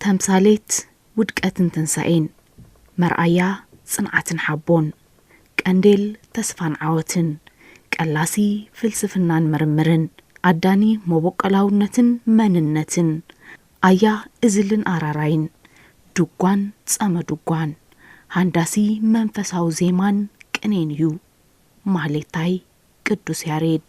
ተምሳሌት ውድቀትን ትንሳኤን፣ መርኣያ ጽንዓትን ሓቦን፣ ቀንዴል ተስፋን ዓወትን፣ ቀላሲ ፍልስፍናን ምርምርን፣ ኣዳኒ መቦቆላውነትን መንነትን፣ ኣያ እዝልን ኣራራይን፣ ድጓን ጸመ ድጓን፣ ሃንዳሲ መንፈሳዊ ዜማን ቅኔን እዩ። ማህሌታይ ቅዱስ ያሬድ።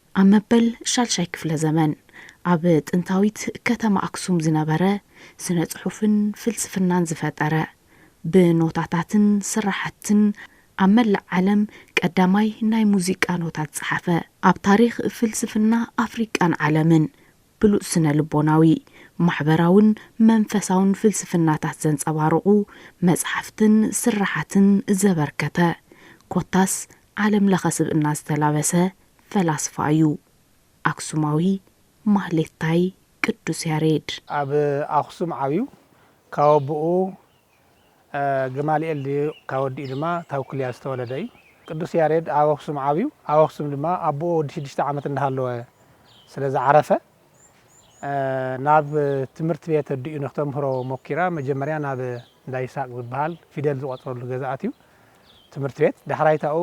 ኣብ መበል ሻድሻይ ክፍለ ዘመን ኣብ ጥንታዊት ከተማ ኣክሱም ዝነበረ ስነ ጽሑፍን ፍልስፍናን ዝፈጠረ፣ ብኖታታትን ስራሕትን ኣብ መላእ ዓለም ቀዳማይ ናይ ሙዚቃ ኖታ ዝጸሓፈ፣ ኣብ ታሪኽ ፍልስፍና ኣፍሪቃን ዓለምን ብሉጽ ስነ ልቦናዊ፣ ማሕበራውን መንፈሳውን ፍልስፍናታት ዘንጸባርቑ መጽሓፍትን ስራሓትን ዘበርከተ፣ ኮታስ ዓለም ለኸ ስብእና ዝተላበሰ ፈላስፋ እዩ ኣክሱማዊ ማህሌታይ ቅዱስ ያሬድ። ኣብ ኣኽሱም ዓብዩ ካብ ኣቡኡ ገማልኤል ድዩ ካብ ወዲኡ ድማ ታውክልያ ዝተወለደ እዩ። ቅዱስ ያሬድ ኣብ ኣኽሱም ዓብዩ ኣብ ኣኽሱም ድማ ኣቡኡ ወዲ ሽዱሽተ ዓመት እንዳሃለወ ስለ ዝዓረፈ ናብ ትምህርት ቤት ኣዲኡ ንክተምህሮ ሞኪራ መጀመርያ ናብ እንዳ ይስሃቅ ዝብሃል ፊደል ዝቆፅረሉ ገዛ ኣትዩ ትምህርት ቤት ዳሕራይታኡ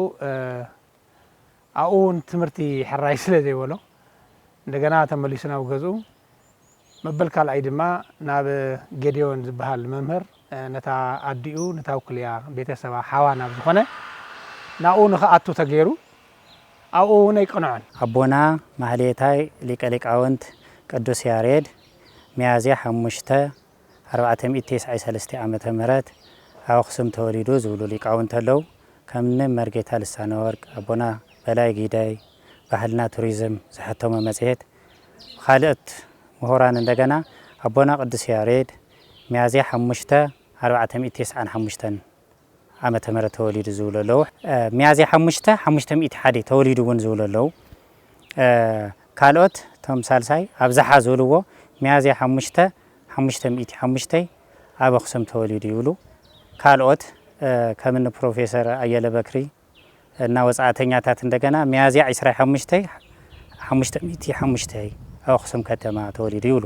ኣብኡ እውን ትምህርቲ ሕራይ ስለ ዘይበሎ እንደገና ተመሊሱ ናብ ገዝኡ፣ መበል ካልኣይ ድማ ናብ ጌዴዎን ዝበሃል መምህር ነታ ኣዲኡ ንታውክልያ ቤተ ሰባ ሓዋ ናብ ዝኾነ ናብኡ ንኽኣቱ ተገይሩ፣ ኣብኡ እውን ኣይቀንዖን። ኣቦና ማህሌታይ ሊቀ ሊቃውንት ቅዱስ ያሬድ ሚያዝያ ሓሙሽተ ኣርባዕተ ሚእቲ ቴስዓይ ሰለስተ ዓመተ ምህረት ኣብ ኣኽሱም ተወሊዱ ዝብሉ ሊቃውንቲ ኣለው። ከምኒ መርጌታ ልሳነወርቅ፣ ኣቦና በላይ ግደይ፣ ባህልና ቱሪዝም ዘሐተሞ መጽሔት፣ ብኻልኦት ምሁራን እንደገና ኣቦና ቅዱስ ያሬድ፣ ሚያዝያ ሓሙሽተ ኣርባዕተ ሚእቲ ቴስዓን ሓሙሽተን፣ ዓመተ ምህረት ተወሊዱ ዝብሉ ኣለዉ። ሚያዝያ ሓሙሽተ ሓሙሽተ ሚእቲ ሓደ ተወሊዱ እውን ዝብሉ ኣለዉ። ካልኦት እቶም ሳልሳይ ኣብዝሓ ዝብልዎ ሚያዝያ ሓሙሽተ ሓሙሽተ ሚእቲ ሓሙሽተ ኣብ ኣኽሱም ተወሊዱ ይብሉ። ካልኦት ከም እኒ ፕሮፌሰር ኣየለ በክሪ እና ወጻእተኛታት እንደገና ሚያዝያ ዕስራ ሓሙሽተ ሓሙሽተ ሚእቲ ሓሙሽተ ኣብ ኣኽሱም ከተማ ተወሊዱ ይብሉ።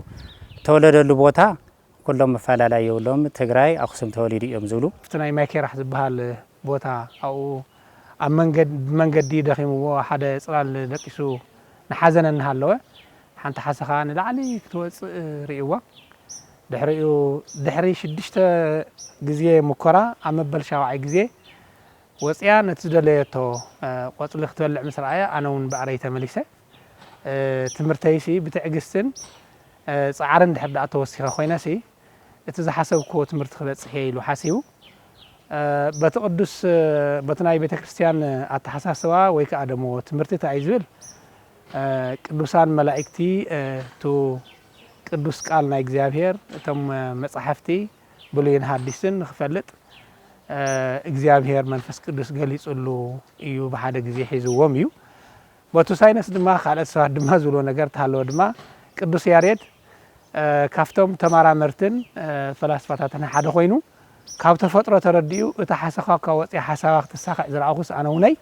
እተወለደሉ ቦታ ኩሎም ኣፋላላይ የብሎምን ትግራይ ኣክሱም ተወሊዱ እዮም ዝብሉ። ኣብቲ ናይ ማይኬራህ ዝብሃል ቦታ ኣብኡ ኣብ መንገድ ብመንገዲ ደኺምዎ ሓደ ጽላል ደቂሱ ንሓዘነ እናሃለወ ሓንቲ ሓሰኻ ንላዕሊ ክትወጽእ ርእይዋ ድሕሪኡ ድሕሪ ሽዱሽተ ግዜ ሙኮራ ኣብ መበል ሻውዓይ ግዜ ወጺኣ ነቲ ዝደለየቶ ቆጽሊ ክትበልዕ ምስ ረኣያ ኣነ ውን ብዕረይ ተመሊሰ ትምህርተይሲ ብትዕግስትን ጻዕርን ድሕሪ ድኣ ተወሲኸ ኮይነሲ እቲ ዝሓሰብክዎ ትምህርቲ ክበጽሕ እየ ኢሉ ሓሲቡ በቲ ቅዱስ በቲ ናይ ቤተክርስትያን ኣተሓሳስባ ወይ ከኣ ደሞ ትምህርቲ ታይ እዩ ዝብል ቅዱሳን መላኢክቲ ቱ ቅዱስ ቃል ናይ እግዚኣብሔር እቶም መጻሕፍቲ ብሉይን ሓዲስን ንክፈልጥ እግዚኣብሄር መንፈስ ቅዱስ ገሊጽሉ እዩ ብሓደ ግዜ ሒዝዎም እዩ በቱ ሳይነስ ድማ ካልኦት ሰባት ድማ ዝብሎ ነገር ተሃለወ ድማ ቅዱስ ያሬድ ካብቶም ተመራመርትን ፈላስፋታትን ሓደ ኮይኑ ካብ ተፈጥሮ ተረዲኡ እታ ሓሰኻካ ወፅያ ሓሳባ ክትሳኽዕ ዝረኣኹስ ኣነ ውነይ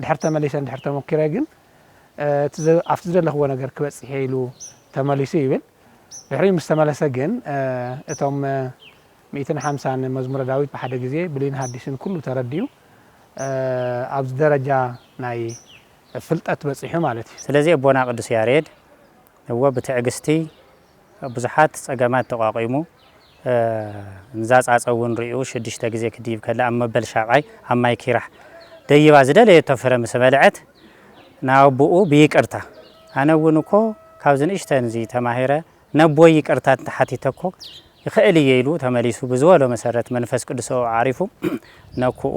ድሕር ተመሊሰ ድሕር ተሞኪረ ግን ኣብቲ ዝደለኽዎ ነገር ክበፅሕ ኢሉ ተመሊሱ ይብል ድሕሪኡ ምስ ተመለሰ ግን እቶም ሚእትን ሓምሳን መዝሙረ ዳዊት ብሓደ ግዜ ብሉይን ሃዲስን ኩሉ ተረዲኡ ኣብዚ ደረጃ ናይ ፍልጠት በጺሑ ማለት እዩ። ስለዚ ኣቦና ቅዱስ ያሬድ እወ ብትዕግስቲ ብዙሓት ጸገማት ተቋቂሙ እዛ ጻጸ እውን ርእዩ ሽዱሽተ ግዜ ክድይብ ከሎ ኣብ መበል ሻብዓይ ኣብ ማይ ኪራሕ ደይባ ዝደለየቶ ፍረ ምስ በልዐት ንኣቡኡ ብይቅርታ ኣነ እውን እኮ ካብዚ ንእሽተን እዚ ተማሂረ ነቦይ ይቅርታ እንተሓቲተኮ ይኽእል እየ ኢሉ ተመሊሱ ብዝበሎ መሰረት መንፈስ ቅዱስ ኣብኡ ዓሪፉ ነኩኡ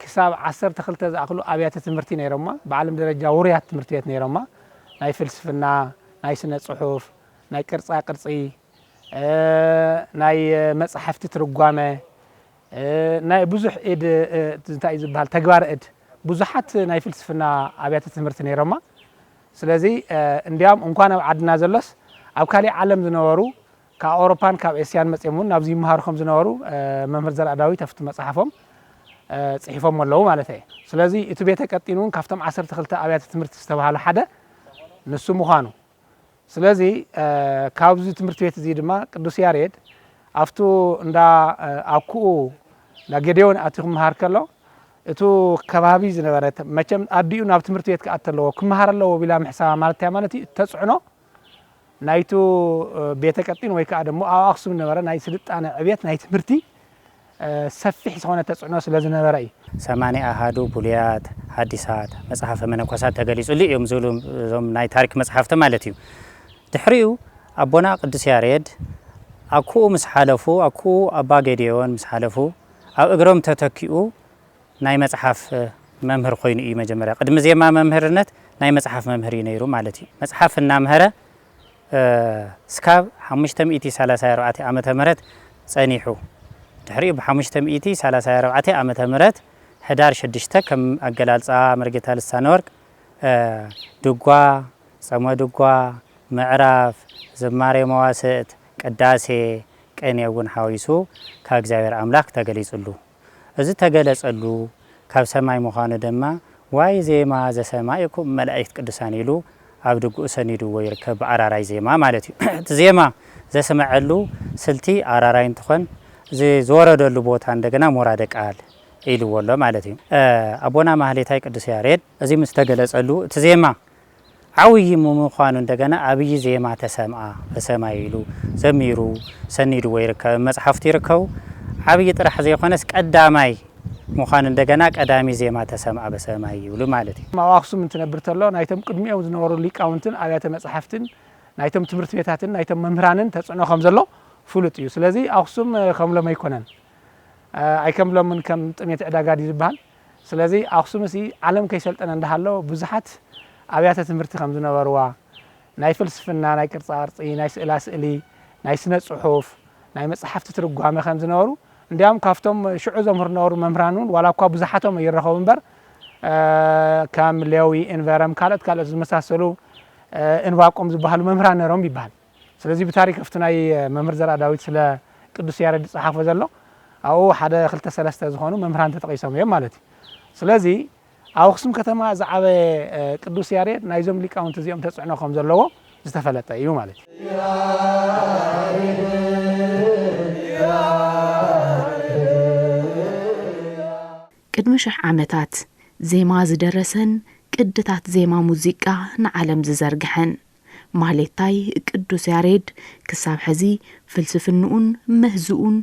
ክሳብ ዓሰርተ ክልተ ዝኣኽሉ ኣብያተ ትምህርቲ ነይሮማ፣ ብዓለም ደረጃ ውሩያት ትምህርቲ ቤት ነይሮማ፣ ናይ ፍልስፍና፣ ናይ ስነ ጽሑፍ፣ ናይ ቅርጻ ቅርጺ፣ ናይ መጻሕፍቲ ትርጓመ፣ ናይ ብዙሕ እድ እንታይ እዩ ዝብሃል ተግባረ እድ ብዙሓት ናይ ፍልስፍና ኣብያተ ትምህርቲ ነይሮማ፣ ስለዚ እንድያውም እንኳን ኣብ ዓድና ዘሎስ ኣብ ካሊእ ዓለም ዝነበሩ ካብ ኣውሮፓን ካብ ኤስያን መጺኦም እውን ናብዚ ይመሃሩ ከም ዝነበሩ መምህር ዘርኣዳዊት ኣብቲ መጽሓፎም ጽሒፎሞ ኣለዉ ማለት እየ። ስለዚ እቲ ቤተ ቀጢን እውን ካብቶም ዓሰርተ ክልተ ኣብያተ ትምህርቲ ዝተባህሉ ሓደ ንሱ ምዃኑ ስለዚ ካብዚ ትምህርቲ ቤት እዚ ድማ ቅዱስ ያሬድ ኣብቱ እንዳ ኣኩኡ እንዳ ጌዴዎን ኣትዩ ክመሃር ከሎ እቱ ከባቢ ዝነበረ መቸም ኣዲኡ ናብ ትምህርቲ ቤት ክኣቲ ኣለዎ ክመሃር ኣለዎ ቢላ ምሕሳባ ማለት እንታይ ማለት እዩ? እተጽዕኖ ናይቱ ቤተ ቀጢን ወይ ከኣ ደሞ ኣብ ኣክሱም ዝነበረ ናይ ስልጣነ ዕብየት ናይ ትምህርቲ ሰፊሕ ዝኾነ ተጽዕኖ ስለ ዝነበረ እዩ። ሰማንያ ኣሃዱ ብሉያት፣ ሓዲሳት፣ መጽሓፈ መነኮሳት ተገሊጹሉ እዮም ዝብሉ እዞም ናይ ታሪክ መጽሓፍቲ ማለት እዩ። ድሕሪኡ ኣቦና ቅዱስ ያሬድ ኣኩኡ ምስ ሓለፉ ኣኩኡ ኣባ ጌዴዎን ምስ ሓለፉ ኣብ እግሮም ተተኪኡ ናይ መጽሓፍ መምህር ኮይኑ እዩ መጀመርያ ቅድሚ ዜማ መምህርነት ናይ መጽሓፍ መምህር እዩ ነይሩ ማለት እዩ መጽሓፍ እናምሀረ ስካብ ሓሙሽተ ሚእቲ ሰላሳይ ኣርባዕተ ዓመተ ምህረት ጸኒሑ ድሕሪኡ ብሓሙሽተ ሚእቲ ሰላሳይ ኣርባዕተ ዓመተ ምህረት ሕዳር ሽዱሽተ ከም ኣገላልጻ መርጌታ ልሳነወርቅ ድጓ ጸመ ድጓ ምዕራፍ ዝማሬ መዋስእት ቅዳሴ ቅኔ እውን ሓዊሱ ካብ እግዚኣብሔር ኣምላክ ተገሊጽሉ እዚ እተገለጸሉ ካብ ሰማይ ምዃኑ ደማ ዋይ ዜማ ዘሰማኢኩም መላኢክት ቅዱሳን ኢሉ ኣብ ድግኡ ሰኒድዎ ይርከብ ብኣራራይ ዜማ ማለት እዩ እቲ ዜማ ዘስመዐሉ ስልቲ ኣራራይ እንትኾን እዚ ዝወረደሉ ቦታ እንደገና ሞራደ ቃል ኢልዎ ኣሎ ማለት እዩ ኣቦና ማህሌታይ ቅዱስ ያሬድ እዚ ምስ ተገለጸሉ እቲ ዜማ ዓውዪ ምምዃኑ እንደገና ኣብዪ ዜማ ተሰምኣ በሰማይ ኢሉ ዘሚሩ ሰኒድዎ ይርከብ ኣብ መጽሓፍቱ ይርከቡ ዓብዪ ጥራሕ ዘይኮነስ ቀዳማይ ምዃኑ እንደገና ቀዳሚ ዜማ ተሰምኣ በሰማይ ይብሉ ማለት እዩ። ኣብ ኣኽሱም እንትነብር ተሎ ናይቶም ቅድሚኦም ዝነበሩ ሊቃውንትን ኣብያተ መጽሓፍትን ናይቶም ትምህርት ቤታትን ናይቶም መምህራንን ተጽዕኖ ከም ዘሎ ፍሉጥ እዩ ስለዚ ኣኽሱም ከም ሎሚ ኣይኮነን ኣይከም ሎምን ከም ጥሜት ዕዳጋ ድዩ ዝብሃል ስለዚ ኣኽሱምሲ ዓለም ከይሰልጠነ እንዳሃሎ ብዙሓት ኣብያተ ትምህርቲ ከም ዝነበርዋ፣ ናይ ፍልስፍና፣ ናይ ቅርጻቅርጺ፣ ናይ ስእላ ስእሊ፣ ናይ ስነ ጽሑፍ፣ ናይ መጽሓፍቲ ትርጓመ ከም ዝነበሩ እንዲያውም ካብቶም ሽዑ ዘምህሩ ዝነበሩ መምህራን እውን ዋላ እኳ ብዙሓቶም ኣይረኸቡ እምበር ከም ሌዊ፣ እንቨረም ካልኦት ካልኦት ዝመሳሰሉ እንባቆም ዝበሃሉ መምህራን ነይሮም ይበሃል። ስለዚ ብታሪክ ኣብቲ ናይ መምህር ዘርኣዳዊት ስለ ቅዱስ ያሬድ ዝጸሓፎ ዘሎ ኣብኡ ሓደ ክልተ ሰለስተ ዝኾኑ መምህራን ተጠቒሶም እዮም ማለት እዩ። ስለዚ ኣብ ኣኽሱም ከተማ ዝዓበየ ቅዱስ ያሬድ ናይዞም ሊቃውንቲ እዚኦም ተጽዕኖ ከም ዘለዎ ዝተፈለጠ እዩ ማለት እዩ። ቅድሚ ሽሕ ዓመታት ዜማ ዝደረሰን ቅድታት ዜማ ሙዚቃ ንዓለም ዝዘርግሐን፣ ማህሌታይ ቅዱስ ያሬድ ክሳብ ሕዚ ፍልስፍንኡን ምህዝኡን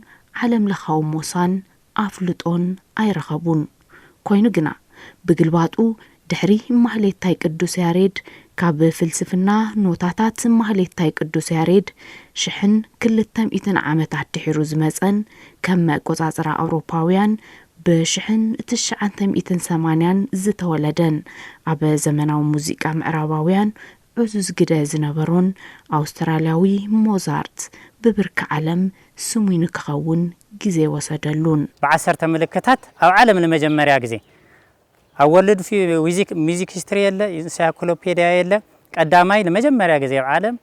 ዓለም ለኻዊ ሞሳን ኣፍልጦን ኣይረኸቡን። ኮይኑ ግና ብግልባጡ ድሕሪ ማህሌታይ ቅዱስ ያሬድ ካብ ፍልስፍና ኖታታት ማህሌታይ ቅዱስ ያሬድ ሽሕን ክልተ ሚእትን ዓመት ኣድሒሩ ዝመጸን ከም መቆጻጽራ ኣውሮፓውያን ብሽሕን ትሽዓንተ ሚእትን ሰማንያን ዝተወለደን ኣብ ዘመናዊ ሙዚቃ ምዕራባውያን ዕዙዝ ግደ ዝነበሮን ኣውስትራልያዊ ሞዛርት ብብርኪ ዓለም ስሙይ ንክኸውን ግዜ ወሰደሉን። ብዓሰርተ ምልክታት ኣብ ዓለም ንመጀመርያ ግዜ ኣብ ወርልድ ሚዚክ ሂስትሪ የለ ኢንሳይክሎፔድያ የለ ቀዳማይ ንመጀመርያ ግዜ ኣብ ዓለም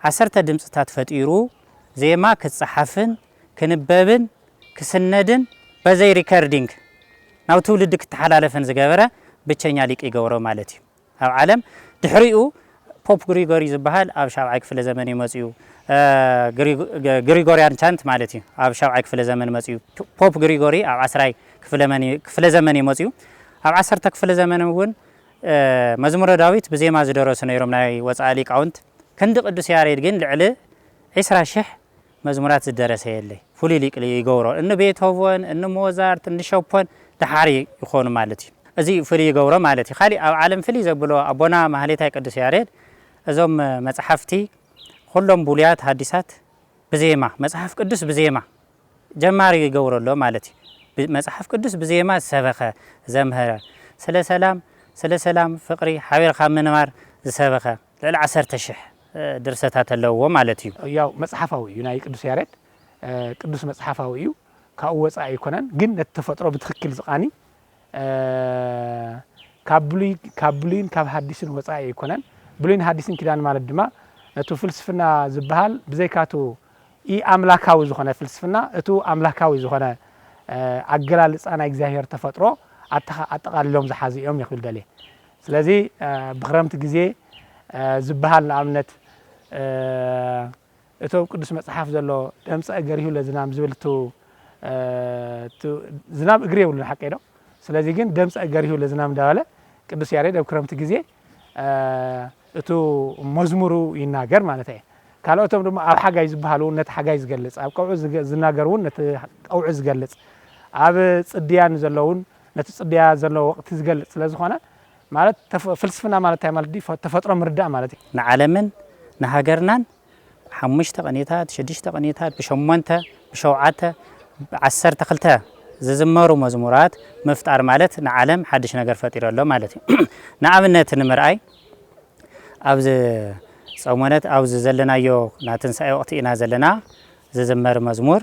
ዓሰርተ ድምጽታት ፈጢሩ ዜማ ክጸሓፍን ክንበብን ክስነድን በዘይ ሪከርዲንግ ናብ ትውልዲ ክተሓላለፍን ዝገበረ ብቸኛ ሊቅ ይገብሮ ማለት እዩ። ኣብ ዓለም ድሕሪኡ ፖፕ ግሪጎሪ ዝበሃል ኣብ ሻብዓይ ክፍለ ዘመን እዩ መጺኡ ግሪጎርያን ቻንት ማለት እዩ ኣብ ሻብዓይ ክፍለ ዘመን መጺኡ ፖፕ ግሪጎሪ ኣብ ዓስራይ ክፍለ ዘመን እዩ መጺኡ ኣብ ዓሰርተ ክፍለ ዘመን እውን መዝሙረ ዳዊት ብዜማ ዝደረሱ ነይሮም ናይ ወጻኢ ሊቃውንት ክንዲ ቅዱስ ያሬድ ግን ልዕሊ ዒስራ ሽሕ መዝሙራት ዝደረሰ የለይ ፍሉይ ሊቅ ይገብሮ እኒ ቤቶቮን እኒ ሞዛርት እኒ ሸፖን ደሓር ይኾኑ ማለት እዩ እዚ ፍልይ ይገብሮ ማለት እዩ ካሊእ ኣብ ዓለም ፍልይ ዘብሎ ኣቦና ማህሌታይ ቅዱስ ያሬድ እዞም መፅሓፍቲ ኹሎም ብሉያት ሃዲሳት ብዜማ መፅሓፍ ቅዱስ ብዜማ ጀማሪ ይገብሮ ኣሎ ማለት እዩ መፅሓፍ ቅዱስ ብዜማ ዝሰበኸ ዘምህረ ስለ ሰላም ስለ ሰላም ፍቅሪ ሓቢርካ ምንባር ዝሰበኸ ልዕሊ ዓሰርተ ሽሕ ድርሰታት ኣለውዎ ማለት እዩ። ያው መጽሓፋዊ እዩ ናይ ቅዱስ ያሬድ ቅዱስ መጽሓፋዊ እዩ ካብኡ ወጻኢ ኣይኮነን ግን ነቲ ተፈጥሮ ብትክክል ዝቃኒ ካብ ብሉይ ካብ ብሉይን ካብ ሃዲስን ወጻኢ ኣይኮነን ብሉይን ሃዲስን ኪዳን ማለት ድማ ነቱ ፍልስፍና ዝብሃል ብዘይካቱ ኢ ኣምላካዊ ዝኾነ ፍልስፍና እቱ ኣምላካዊ ዝኾነ ኣገላልጻ ናይ እግዚኣብሔር ተፈጥሮ ኣተካ ኣጠቃሊሎም ዝሓዙ እዮም ክብል ደልየ ስለዚ ብክረምቲ ግዜ ዝብሃል ንኣብነት እቲ ኣብ ቅዱስ መጽሓፍ ዘሎ ደምጸ እገሪሁ ለዝናም ዝብል ቱ ዝናብ እግሪ የብሉን ሓቀይ ዶ ስለዚ ግን ደምጸ እገሪሁ ለዝናም እንዳበለ ቅዱስ ያሬድ ኣብ ክረምቲ ግዜ እቱ መዝሙሩ ይናገር ማለት እየ ካልኦቶም ድማ ኣብ ሓጋይ ዝበሃል እውን ነቲ ሓጋይ ዝገልጽ ኣብ ቀውዒ ዝናገር እውን ነቲ ቀውዒ ዝገልጽ ኣብ ጽድያን ዘለውን ነቲ ጽድያ ዘሎ ወቕቲ ዝገልጽ ስለ ዝኾነ ማለት ተፈ ፍልስፍና ማለት እንታይ ማለት ድዩ ተፈጥሮ ምርዳእ ማለት እዩ። ንዓለምን ንሃገርናን ሓሙሽተ ቅኒታት ሽዱሽተ ቅኒታት ብሸሞንተ ብሸውዓተ ብዓሰርተ ክልተ ዝዝመሩ መዝሙራት ምፍጣር ማለት ንዓለም ሓድሽ ነገር ፈጢሩ ኣሎ ማለት እዩ። ንኣብነት ንምርኣይ ኣብዚ ጸሞነት ኣብዚ ዘለናዮ ናትንሳኤ ወቕቲ ኢና ዘለና ዝዝመር መዝሙር፣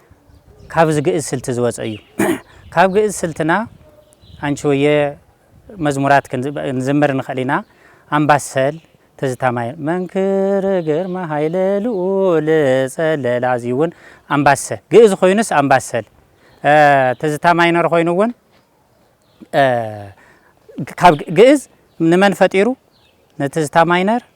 ካብዚ ግእዝ ስልቲ ዝወጸ እዩ። ካብ ግእዝ ስልትና ኣንቺ ሆየ መዝሙራት ክንዝምር ንኽእል ኢና። ኣምባሰል ትዝታ ማይ መንክር ግርማ ሃይለ ልኡል ጸለላ እዚ እውን ኣምባሰ ግእዝ ኮይኑስ ኣምባሰል ትዝታ ማይነር ኮይኑ እውን ካብ ግእዝ ንመን ፈጢሩ ንትዝታ ማይነር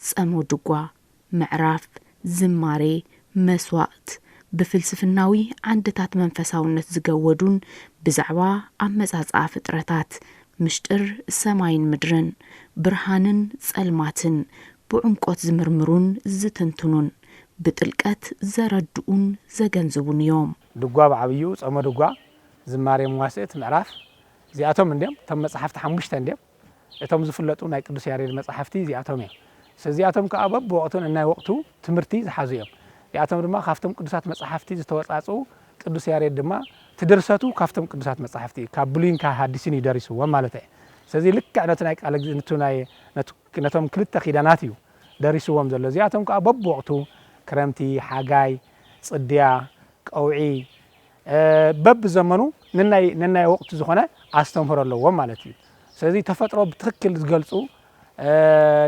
ጸምው ድጓ፣ ምዕራፍ፣ ዝማሬ፣ መስዋእት፣ ብፍልስፍናዊ ዓንድታት መንፈሳውነት ዝገወዱን ብዛዕባ ኣመጻጽኣ ፍጥረታት፣ ምሽጥር ሰማይን ምድርን፣ ብርሃንን ጸልማትን፣ ብዑምቆት ዝምርምሩን ዝትንትኑን፣ ብጥልቀት ዘረድኡን ዘገንዝቡን እዮም። ድጓ ብዓብይኡ፣ ጸመ ድጓ፣ ዝማሬ መዋሥእት፣ ምዕራፍ፣ እዚኣቶም እንድዮም። እቶም መጻሕፍቲ ሓሙሽተ እንድዮም። እቶም ዝፍለጡ ናይ ቅዱስ ያሬድ መጻሕፍቲ እዚኣቶም እዮም። እዚኣቶም ከኣ በብወቕቱ ነናይ ወቕቱ ትምህርቲ ዝሓዙ እዮም። እዚኣቶም ድማ ካብቶም ቅዱሳት መጻሕፍቲ ዝተወጻጽኡ፣ ቅዱስ ያሬድ ድማ እቲ ድርሰቱ ካብቶም ቅዱሳት መጻሕፍቲ እዩ፣ ካብ ብሉይን ካብ ሃዲስን እዩ ደሪስዎም ማለት እየ። ስለዚ ልክዕ ነቲ ናይ ቃለ እግዚእ ንቱ ናይ ነቶም ክልተ ኪዳናት እዩ ደሪስዎም ዘሎ። እዚኣቶም ከኣ በብወቕቱ ክረምቲ፣ ሓጋይ፣ ጽድያ፣ ቀውዒ፣ በብ ዘመኑ ንናይ ነናይ ወቅቱ ዝኮነ ኣስተምህሮ ኣለዎም ማለት እዩ ስለዚ ተፈጥሮ ብትክክል ዝገልፁ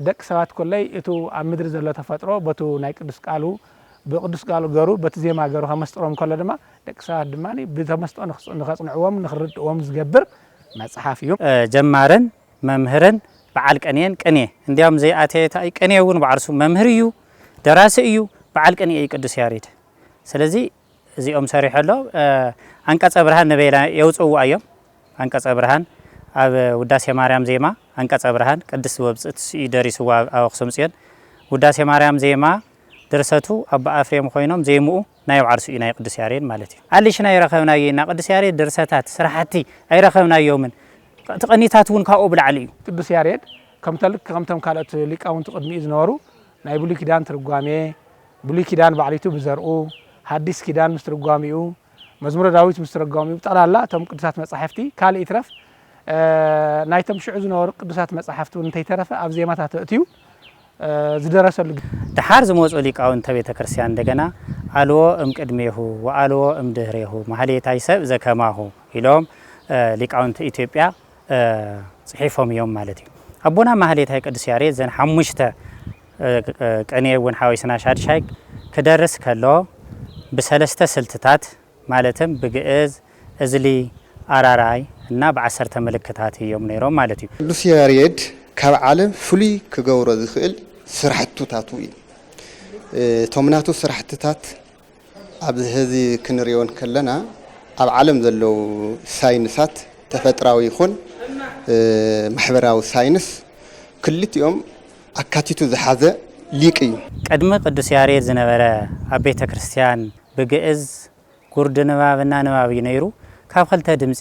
ደቂ ሰባት ኮለይ እቱ ኣብ ምድሪ ዘሎ ተፈጥሮ በቱ ናይ ቅዱስ ቃሉ ብቅዱስ ቃሉ ገሩ በቲ ዜማ ገሩ ከመስጥሮም ከሎ ድማ ደቂ ሰባት ድማ ብተመስጦ ንከፅንዕዎም ንክርድእዎም ዝገብር መፅሓፍ እዩ። ጀማርን መምህርን በዓል ቅኔን ቅኔ እንዲያውም ዘይኣተየታ እዩ ቅኔ እውን ባዕርሱ መምህር እዩ ደራሲ እዩ በዓል ቅኔ እዩ ቅዱስ ያሬድ ስለዚ እዚኦም ሰሪሑ ኣሎ። ኣንቀጸ ብርሃን ንበይና የውጽእዎ ኣዮም። ኣንቀጸ ብርሃን ኣብ ውዳሴ ማርያም ዜማ ኣንቀጸ ብርሃን ቅድስት ወብጽት ስዩ ደሪስዎ ኣብ ኣክሱም ጽዮን ውዳሴ ማርያም ዜማ ድርሰቱ ኣባ ኣፍሬም ኮይኖም ዜምኡ ናይ ኣብ ዓርሱ እዩ ናይ ቅዱስ ያሬድ ማለት እዩ። ኣሊሽን ኣይረኸብናዮ ኢና ቅዱስ ያሬድ ድርሰታት ስራሕቲ ኣይረኸብናዮምን እቲ ቅኒታት እውን ካብኡ ብላዕሊ እዩ። ቅዱስ ያሬድ ከምቶም ካልኦት ሊቃውንቲ ቅድሚኡ ዝነበሩ ናይ ብሉይ ኪዳን ትርጓሜ፣ ብሉይ ኪዳን ባዕሊቱ ብዘርኡ፣ ሃዲስ ኪዳን ምስ ትርጓሚኡ፣ መዝሙረ ዳዊት ምስ ትረጓሚኡ ብጠቕላላ እቶም ቅዱሳት መጻሕፍቲ ካልእ ይትረፍ ናይቶም ሽዑ ዝነበሩ ቅዱሳት መጻሕፍቲ እውን እንተይተረፈ ኣብ ዜማታቱ ኣእትዩ ዝደረሰሉ ደሓር ዝመጹ ሊቃውንተ ቤተ ክርስቲያን እንደገና ኣልዎ እምቅድሜሁ ወኣልዎ እምድህሬሁ ማህሌታይ ሰብእ ዘከማሁ ኢሎም ሊቃውንቲ ኢትዮጵያ ጽሒፎም እዮም ማለት እዩ። ኣቦና ማህሌታይ ቅዱስ ያሬድ ዘን ሓሙሽተ ቅኔ እውን ሓዊስና ሻድሻይ ክደርስ ከሎ ብሰለስተ ስልትታት ማለትም ብግእዝ፣ እዝሊ፣ ኣራራይ እና ብዓሰርተ ምልክታት እዮም ነይሮም ማለት እዩ። ቅዱስ ያሬድ ካብ ዓለም ፍሉይ ክገብሮ ዝኽእል ስራሕቱታቱ እዩ። እቶም ናቱ ስራሕትታት ኣብዚ ሐዚ ክንሪኦ እንከለና ኣብ ዓለም ዘለዉ ሳይንሳት ተፈጥራዊ ይኹን ማሕበራዊ ሳይንስ ክልቲኦም ኣካቲቱ ዝሓዘ ሊቅ እዩ። ቅድሚ ቅዱስ ያሬድ ዝነበረ ኣብ ቤተ ክርስቲያን ብግእዝ ጉርዲ ንባብ እናንባብ እዩ ነይሩ። ካብ ክልተ ድምጺ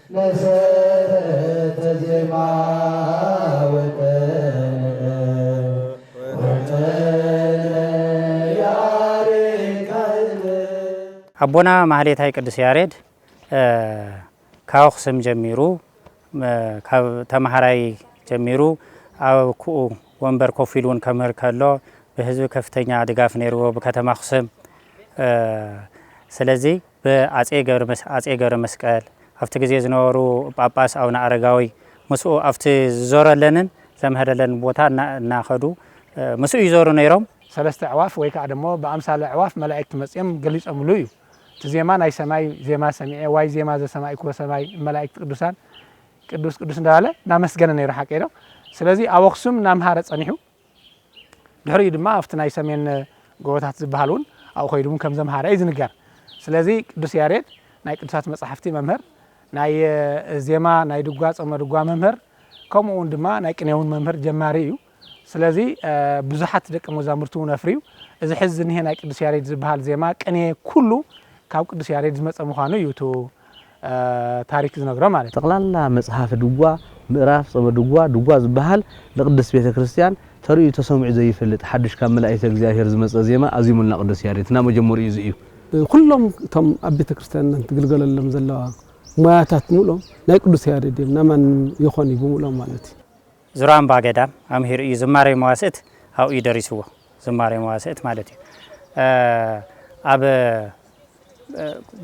መሰረተ ዜማ ኣቦና ማህሌታይ ቅዱስ ያሬድ ካብ ኣኽሱም ጀሚሩ ካብ ተምሃራይ ጀሚሩ ኣብ ኩኡ ወንበር ኮፍ ኢሉ እውን ከምህር ከሎ ብህዝቢ ከፍተኛ ድጋፍ ነይርዎ ብከተማ ኣኽሱም ስለዚ ብኣጼ ኣጼ ገብረመስቀል ኣብቲ ግዜ ዝነበሩ ጳጳስ ኣቡነ ኣረጋዊ ምስኡ ኣብቲ ዝዞረለንን ዘምሀረለንን ቦታ እና እናኸዱ ምስኡ ይዞሩ ነይሮም። ሰለስተ ኣዕዋፍ ወይ ከኣ ደሞ ብኣምሳለ ኣዕዋፍ መላእክት መጺኦም ገሊጾምሉ እዩ። እቲ ዜማ ናይ ሰማይ ዜማ ሰሚዐ ዋይ ዜማ ዘሰማዕክዎ ሰማይ እመላእክት ቅዱሳን ቅዱስ ቅዱስ እንዳበለ እናመስገነ ነይሩ ሓቀይ ዶ ስለዚ ኣብ ኣኽሱም እናምሃረ ጸኒሑ። ድሕሪኡ ድማ ኣብቲ ናይ ሰሜን ጎቦታት ዝበሃል እውን ኣብኡ ከይዱ እውን ከም ዘምሃረ እዩ ዝንገር። ስለዚ ቅዱስ ያሬድ ናይ ቅዱሳት መጻሕፍቲ መምህር፣ ናይ ዜማ፣ ናይ ድጓ፣ ጾመ ድጓ መምህር ከምኡ እውን ድማ ናይ ቅኔ እውን መምህር ጀማሪ እዩ። ስለዚ ብዙሓት ደቂ መዛሙርቲ እውን ኣፍርዩ። እዚ ሕዚ ዝኒሀ ናይ ቅዱስ ያሬድ ዝበሃል ዜማ፣ ቅኔ ኩሉ ካብ ቅዱስ ያሬድ ዝመጸ ምዃኑ እዩ እቲ ታሪክ ዝነግሮ ማለት እዩ። ጠቕላላ መጽሓፈ ድጓ፣ ምእራፍ ጸበ ድጓ፣ ድጓ ዝበሃል ንቅድስት ቤተ ክርስቲያን ተርእዩ ተሰሚዑ ዘይፈልጥ ሓዱሽ ካብ መላኢተ እግዚኣብሔር ዝመጸ ዜማ ኣዚሙልና ቅዱስ ያሬድ እና መጀመሪኡ እዚ እዩ። ኩሎም እቶም ኣብ ቤተ ክርስቲያንና ትግልገለሎም ዘለዋ ሞያታት ምሉኦም ናይ ቅዱስ ያሬድ እዮም ናማንም ይኾን እዩ ብምሉኦም ማለት እዩ። ዙራምባ ገዳም ኣምሂሩ እዩ ዝማሬ መዋስእት ኣብኡ እዩ ደሪስዎ ዝማሬ መዋስእት ማለት እዩ ኣብ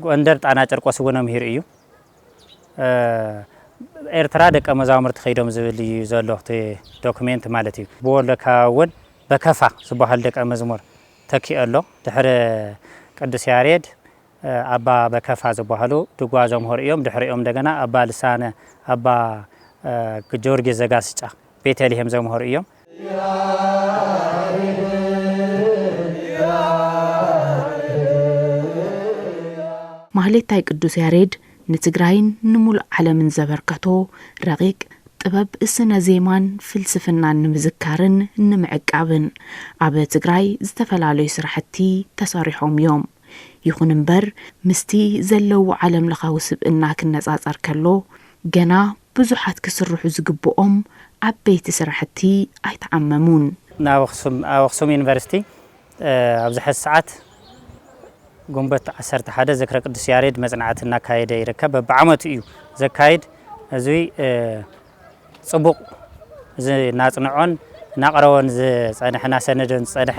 ጎንደር ጣና ጨርቆስ እውን ኣምሂሩ እዩ ኤርትራ ደቀ መዛሙርቲ ከይዶም ዝብል እዩ ዘሎ ዶክሜንት ማለት እዩ ብወሎ ከባቢ እውን በከፋ ዝበሃሉ ደቀ መዝሙር ተኪኦ ኣሎ ድሕሪ ቅዱስ ያሬድ ኣባ በከፋ ዝባሃሉ ድጓ ዘምሀሩ እዮም። ድሕሪኦም እንደገና ኣባ ልሳነ፣ ኣባ ግዮርጊስ ዘጋስጫ፣ ቤተልሔም ዘምሀሩ እዮም። ማህሌታይ ቅዱስ ያሬድ ንትግራይን ንሙሉእ ዓለምን ዘበርከቶ ረቒቕ ጥበብ ስነ ዜማን ፍልስፍናን ንምዝካርን ንምዕቃብን ኣብ ትግራይ ዝተፈላለዩ ስራሕቲ ተሰሪሖም እዮም። ይኹን እምበር ምስቲ ዘለዎ ዓለምለኻዊ ስብእና ክነጻጸር ከሎ ገና ብዙሓት ክስርሑ ዝግብኦም ዓበይቲ ስራሕቲ ኣይተዓመሙን። ናብ ኣኽሱም፣ ኣብ ኣኽሱም ዩኒቨርሲቲ ኣብዚ ሐዚ ሰዓት ግንቦት ዓሰርተ ሓደ ዝክረ ቅዱስ ያሬድ መፅናዕቲ እናካየደ ይርከብ። በብዓመቱ እዩ ዘካይድ። እዚ ጽቡቕ እዚ እናጽንዖን እናቕረቦን ዝጸንሐ እናሰነደን ዝጸንሐ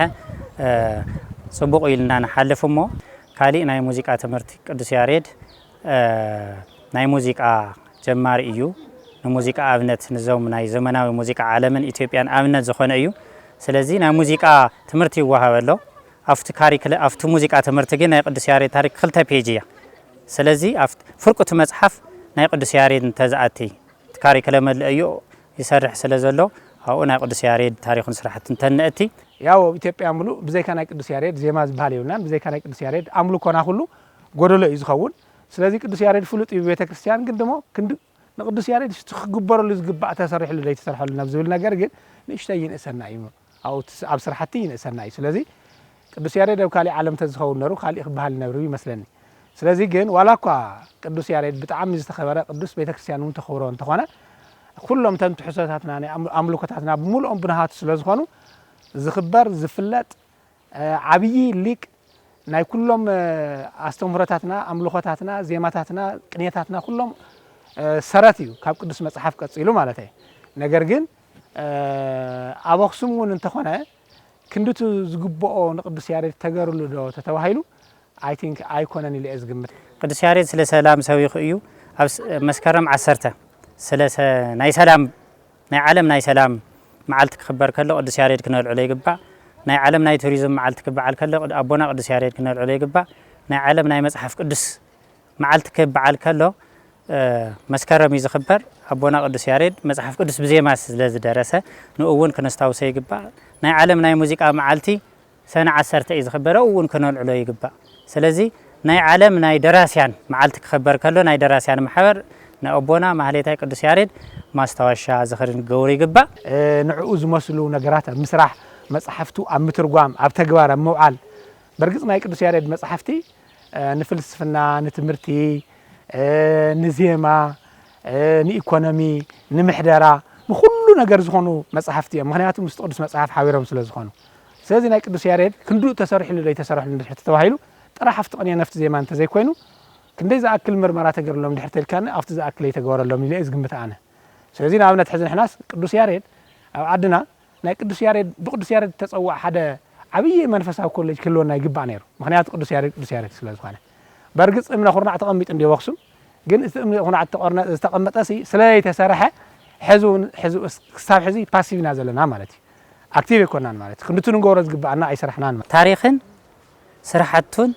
ጽቡቕ ኢልና ንሓልፍ እሞ ካሊእ ናይ ሙዚቃ ትምህርቲ ቅዱስ ያሬድ ናይ ሙዚቃ ጀማሪ እዩ ንሙዚቃ ኣብነት ንዞም ናይ ዘመናዊ ሙዚቃ ዓለምን ኢትዮጵያን ኣብነት ዝኾነ እዩ ስለዚ ናይ ሙዚቃ ትምህርቲ ይወሃበ ኣሎ ኣብቲ ካሪክለ ኣብቲ ሙዚቃ ትምህርቲ ግን ናይ ቅዱስ ያሬድ ታሪክ ክልተ ፔጅ እያ ስለዚ ኣብ ፍርቁ እቲ መጽሓፍ ናይ ቅዱስ ያሬድ እንተ ዝኣቲ እቲ ካሪክለም ኣልእዩ ይሰርሕ ስለ ዘሎ ኣብኡ ናይ ቅዱስ ያሬድ ታሪኹን ስራሕቱን እንተ ነእቲ። ያው ኣብ ኢትዮጵያ ምሉእ ብዘይካ ናይ ቅዱስ ያሬድ ዜማ ዝብሃል የብልናን ብዘይካ ናይ ቅዱስ ያሬድ ኣምልኮና ኩሉ ጎደሎ እዩ ዝኸውን ስለዚ ቅዱስ ያሬድ ፍሉጥ እዩ ብቤተክርስትያን ግን ደሞ ክንዲ ንቅዱስ ያሬድ ሽቲ ክግበረሉ ዝግባእ ተሰሪሕሉ ዘይተሰርሐሉን ኣብ ዝብል ነገር ግን ንእሽተይ ይንእሰና እዩ ኣብኡ ኣብ ስራሕቲ ይንእሰና እዩ ስለዚ ቅዱስ ያሬድ ኣብ ካሊእ ዓለም ተዝኸውን ነሩ ካሊእ ክበሃል ይነብር ይመስለኒ ስለዚ ግን ዋላ እኳ ቅዱስ ያሬድ ብጣዕሚ ዝተኸበረ ቅዱስ ቤተክርስትያን እውን ተኽብሮ እንተኾነ ኩሎም እተን ትሕሶታትና ናይ ኣምልኮታትና ብምልኦም ብንሃቱ ስለዝኾኑ ዝኽበር ዝፍለጥ ዓብዪ ሊቅ ናይ ኩሎም ኣስተምህሮታትና ኣምልኾታትና ዜማታትና ቅኔታትና ኩሎም ሰረት እዩ ካብ ቅዱስ መጽሓፍ ቀጺሉ ማለተይ ነገር ግን ኣብ ኣኽሱም እውን እንተኾነ ክንድቱ ዝግብኦ ንቅዱስ ያሬድ ተገርሉ ዶ ተተባሂሉ ኣይ ቲንክ ኣይኮነን ኢለ እየ ዝግምት። ቅዱስ ያሬድ ስለ ሰላም ሰቢኹ እዩ ኣብ መስከረም ዓሰርተ ስለ ናይ ሰላም ናይ ዓለም ናይ ሰላም መዓልቲ ክኽበር ከሎ ቅዱስ ያሬድ ክነልዕሎ ይግባእ። ናይ ዓለም ናይ ቱሪዝም መዓልቲ ክበዓል ከሎ ኣቦና ቅዱስ ያሬድ ክነልዕሎ ይግባእ። ናይ ዓለም ናይ መጽሓፍ ቅዱስ መዓልቲ ክበዓል ከሎ መስከረም እዩ ዝኽበር። ኣቦና ቅዱስ ያሬድ መጽሓፍ ቅዱስ ብዜማ ስለ ዝደረሰ ንኡ እውን ክነስታውሶ ይግባእ። ናይ ዓለም ናይ ሙዚቃ መዓልቲ ሰነ ዓሰርተ እዩ ዝኽበር ኣብኡ እውን ከነልዕሎ ይግባእ ስለዚ ናይ ዓለም ናይ ደራስያን መዓልቲ ክኽበር ከሎ ናይ ደራስያን ማሕበር ናይ ኣቦና ማህሌታይ ቅዱስ ያሬድ ማስታወሻ ዝኽሪ ንገብሩ ይግባእ። ንዕኡ ዝመስሉ ነገራት ኣብ ምስራሕ፣ መጻሕፍቱ ኣብ ምትርጓም፣ ኣብ ተግባር ኣብ ምውዓል፣ በርግጽ ናይ ቅዱስ ያሬድ መጻሕፍቲ ንፍልስፍና፣ ንትምህርቲ፣ ንዜማ፣ ንኢኮኖሚ፣ ንምሕደራ፣ ንኹሉ ነገር ዝኾኑ መጻሕፍቲ እዮም፣ ምኽንያቱ ምስቲ ቅዱስ መጽሓፍ ሓቢሮም ስለዝኾኑ። ስለዚ ናይ ቅዱስ ያሬድ ክንድኡ ተሰሪሑሉ ዶ ኣይተሰረሑሉን እንድሕር ተተባሂሉ ጥራሕ ኣብቲ ቅኔ ነፍቲ ዜማ እንተዘይኮይኑ ክንደይ ዝኣክል ምርመራ ተገርሎም እንድሕር ተልካኒ ኣብቲ ዝኣክል ኣይተገበረሎምን ኢለ እየ ዝግምት ኣነ ስለዚ ንኣብነት ሕዚ ንሕናስ ቅዱስ ያሬድ ኣብ ዓድና ናይ ቅዱስ ያሬድ ብቅዱስ ያሬድ ዝተጸውዕ ሓደ ዓብይ መንፈሳዊ ኮሌጅ ክህልወና ይግባእ ነይሩ ምክንያቱ ቅዱስ ያሬድ ቅዱስ ያሬድ ስለ ዝኾነ በርግጽ እምነ ኩርናዕ ተቐሚጡ እንድዮ ኣብ ኣክሱም ግን እቲ እምነ ኩርናዕ ዝተቐመጠ ዝተቐመጠ ስለዘይተሰርሐ ሕዚ እውን ሕዚ ክሳብ ሕዚ ፓሲቭ ኢና ዘለና ማለት እዩ ኣክቲቭ ኣይኮናን ማለት ክንዲ እቲ ንገብሮ ዝግበኣና ኣይሰራሕናን ማለት። ታሪኽን ስራሕቱን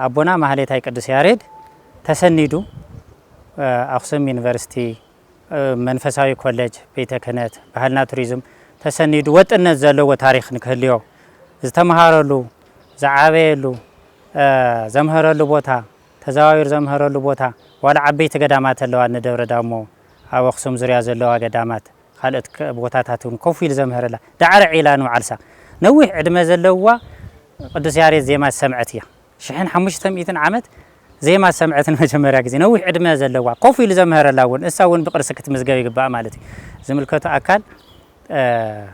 ኣቦና ማህሌታይ ቅዱስ ያሬድ ተሰኒዱ ኣክሱም ዩኒቨርሲቲ መንፈሳዊ ኮሌጅ ቤተ ክህነት ባህልና ቱሪዝም ተሰኒዱ ወጥነት ዘለዎ ታሪኽ ንክህልዮ ዝተምሃረሉ ዝዓበየሉ ዘምሀረሉ ቦታ ተዘዋዊሩ ዘምሀረሉ ቦታ ዋላ ዓበይቲ ገዳማት ኣለዋ እነ ደብረ ዳሞ ኣብ ኣክሱም ዙርያ ዘለዋ ገዳማት ካልኦት ቦታታት እውን ኮፍ ኢሉ ዘምሀረላ ዳዕረ ዒላ ንባዓልሳ ነዊሕ ዕድመ ዘለዋ ቅዱስ ያሬድ ዜማ ዝሰምዐት እያ። ሽሕን ሓሙሽተ ሚእትን ዓመት ዜማ ዝሰምዐት ንመጀመርያ ግዜ ነዊሕ ዕድመ ዘለዋ ኮፍ ኢሉ ዘምሀረላ እውን እሳ እውን ብቅርሲ ክትምዝገብ ይግባኣ ማለት እዩ። ዝምልከቶ ኣካል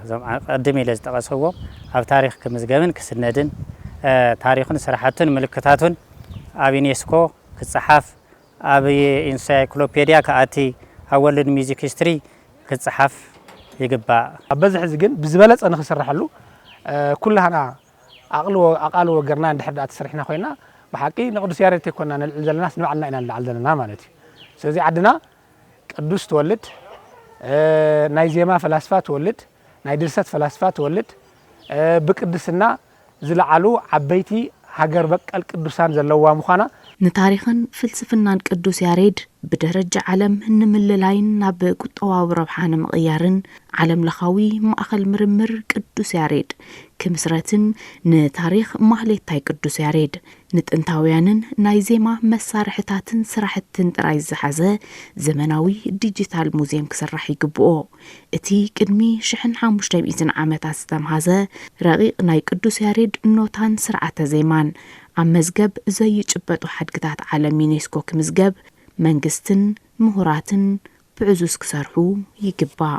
እዞም ኣቀድም ኢለ ዝጠቀሰዎም ኣብ ታሪኽ ክምዝገብን ክስነድን ታሪኹን ስራሕቱን ምልክታቱን ኣብ ዩኔስኮ ክፀሓፍ ኣብ ኢንሳይክሎፔድያ ክኣቲ፣ ኣብ ወርልድ ሚዚክ ሂስትሪ ክጸሓፍ ይግባእ። ኣብ በዚ ሕዚ ግን ብዝበለጸ ንክስረሐሉ ኩላህና ኣቅልዎ ኣቃልዎ ገርና እንድሕር ድኣ ተሰሪሕና ኮይና ብሓቂ ንቅዱስ ያሬድ ተይኮና ነልዕል ዘለናስ ንባዕልና ኢና ንልዓል ዘለና ማለት እዩ። ስለዚ ዓድና ቅዱስ ትወልድ፣ ናይ ዜማ ፈላስፋ ትወልድ፣ ናይ ድርሰት ፈላስፋ ትወልድ፣ ብቅድስና፣ ዝለዓሉ ዓበይቲ ሃገር በቀል ቅዱሳን ዘለዉዋ ምዃና፣ ንታሪኽን ፍልስፍናን ቅዱስ ያሬድ ብደረጃ ዓለም ንምልላይን ናብ ቁጠባዊ ረብሓ ንምቕያርን ዓለም ለኻዊ ማእኸል ምርምር ቅዱስ ያሬድ ክምስረትን ንታሪኽ ማህሌታይ ቅዱስ ያሬድ ንጥንታውያንን ናይ ዜማ መሳርሕታትን ስራሕትን ጥራይ ዝሓዘ ዘመናዊ ዲጂታል ሙዜም ክስራሕ ይግብኦ። እቲ ቅድሚ ሽሕን ሓሙሽተ ሚእትን ዓመታት ዝተምሃዘ ረቒቕ ናይ ቅዱስ ያሬድ ኖታን ስርዓተ ዜማን፣ ኣብ መዝገብ ዘይጭበጡ ሓድግታት ዓለም ዩኔስኮ ክምዝገብ መንግስትን ምሁራትን ብዕዙዝ ክሰርሑ ይግባእ።